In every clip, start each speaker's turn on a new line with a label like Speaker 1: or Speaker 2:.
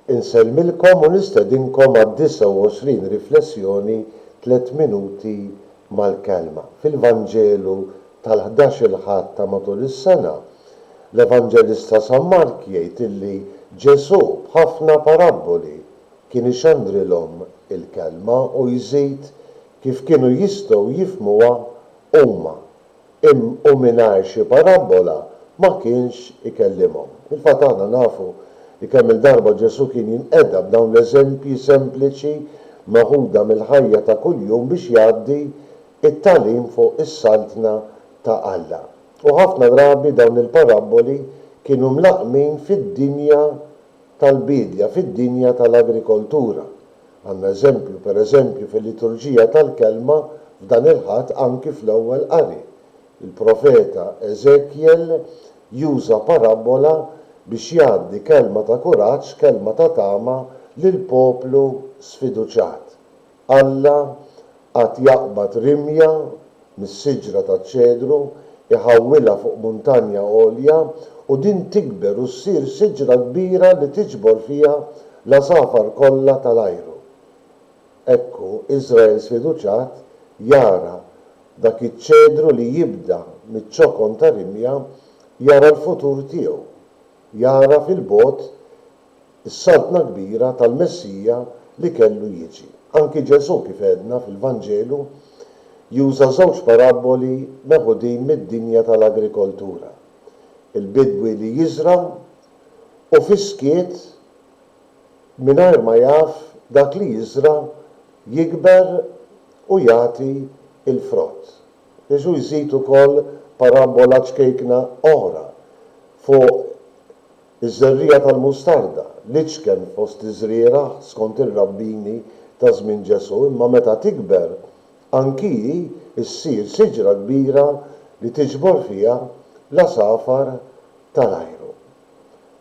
Speaker 1: Insellmilkom u nistedinkom għad-29 riflessjoni Tliet Minuti mal-Kelma. Fil-Vanġelu tal-ħdax-il Ħadd ta' matul is-sena, l-Evanġelista San Mark jgħid illi Ġesù b'ħafna parabboli kien ixandrilhom il-Kelma u jżid kif kienu jistgħu jifhmuha huma. Imn u mingħajr xi parabbola ma kienx ikellimhom. Fil-fatt aħna nafu li kemm-il darba Ġesù kien jinqeda b'dawn l-eżempji sempliċi meħuda mill-ħajja ta' kuljum biex jgħaddi t-tagħlim fuq is-Saltna ta' Alla. U ħafna drabi dawn il-parabboli kienu mlaqqmin fid-dinja tal-biedja fid-dinja tal-agrikoltura. Għandna eżempju, pereżempju, fil-liturġija tal-Kelma f'dan il-Ħadd anki fl-ewwel qari. Il-profeta Eżekjel juża parabbola biex jgħaddi kelma ta' kuraġġ, kelma ta' tama lil poplu sfiduċjat. Alla għad jaqbad rimja mis-siġra taċ-ċedru, iħawwilha fuq muntanja għolja, u din tikber u ssir siġra kbira li tiġbor fiha l-għasafar kollha ta' l-ajru. Hekk hu, Iżrael sfiduċat jara dak iċ-ċedru li jibda miċ-ċokon ta' rimja, jara l-futur tiegħu, jara fil-bogħod is-Saltna Kbira tal-Messija li kellu jiġi. Anki Ġesù, kif għedna fil-Vanġelu, juża żewġ parabboli meħudin mid-dinja tal-agrikoltura, il-bidwi li jiżra' u fis-skiet mingħajr ma jaf dak li jiżra' jikber u jagħti l-frott. Ġesù jżid ukoll parabbola ċkejkna oħra fuq Iż-żerriegħa tal-mustarda, l-iċken fost iż-żrieragħ skont ir-rabbini ta' żmien Ġesù, imma meta tikber, anki hi ssir siġra kbira li tiġbor fiha l-għasafar tal-ajru.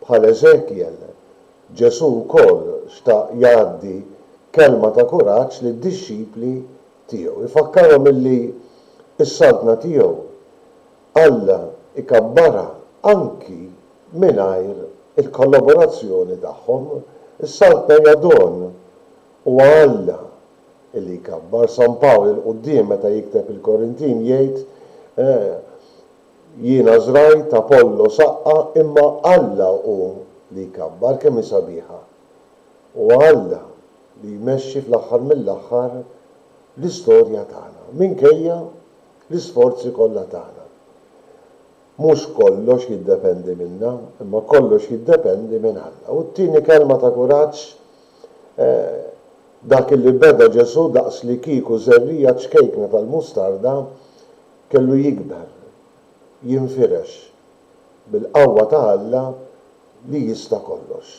Speaker 1: Bħal Eżekjel, Ġesù wkoll xtaq jgħaddi kelma ta' kuraġġ lid-dixxipli tiegħu, ifakkarhom illi s-Saltna tiegħu Alla jkabbarha anki mingħajr il-kollaborazzjoni tagħhom, issalta hija don. Huwa Alla li jkabbar. San Pawl il-quddiem meta jikteb il-Korintin jgħid, Jiena żrajt, Apollo saqqa, imma Alla hu li jkabbar. Kemm hi sabiħa! Huwa Alla li jmexxi fl-aħħar mill-aħħar l-istorja tagħna, minkejja L-isforzi kollha tagħna. Mhux kollox jiddependi minna, imma kollox jiddependi minn Alla. U t-tieni kelma ta' kuraġġ, eh, dak li beda Ġesù daqslikieku żerriegħa ċkejkna tal-mustarda kellu jikber, jinfirex, bil-qawwa ta' Alla li jista' kollox.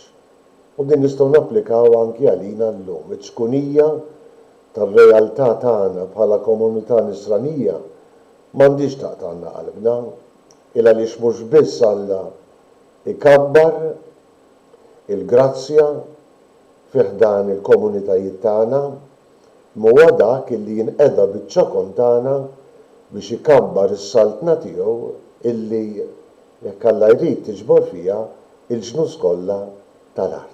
Speaker 1: U din nistgħu napplikaw anki għalina llum, iċ-ċkunija tar-realtà tagħna bħala komunità Nisranija m'għandhiex taqtagħlna qalbna, ilgħaliex mhux biss Alla jkabbar il-grazzja fi ħdan il-komunitajiet tagħna, imma huwa dak illi jinqeda biċ-ċokon tagħna biex ikabbar is-Saltna tiegħu illi, jekk Alla jrid, tiġbor fiha l-ġnus kollha tal-art.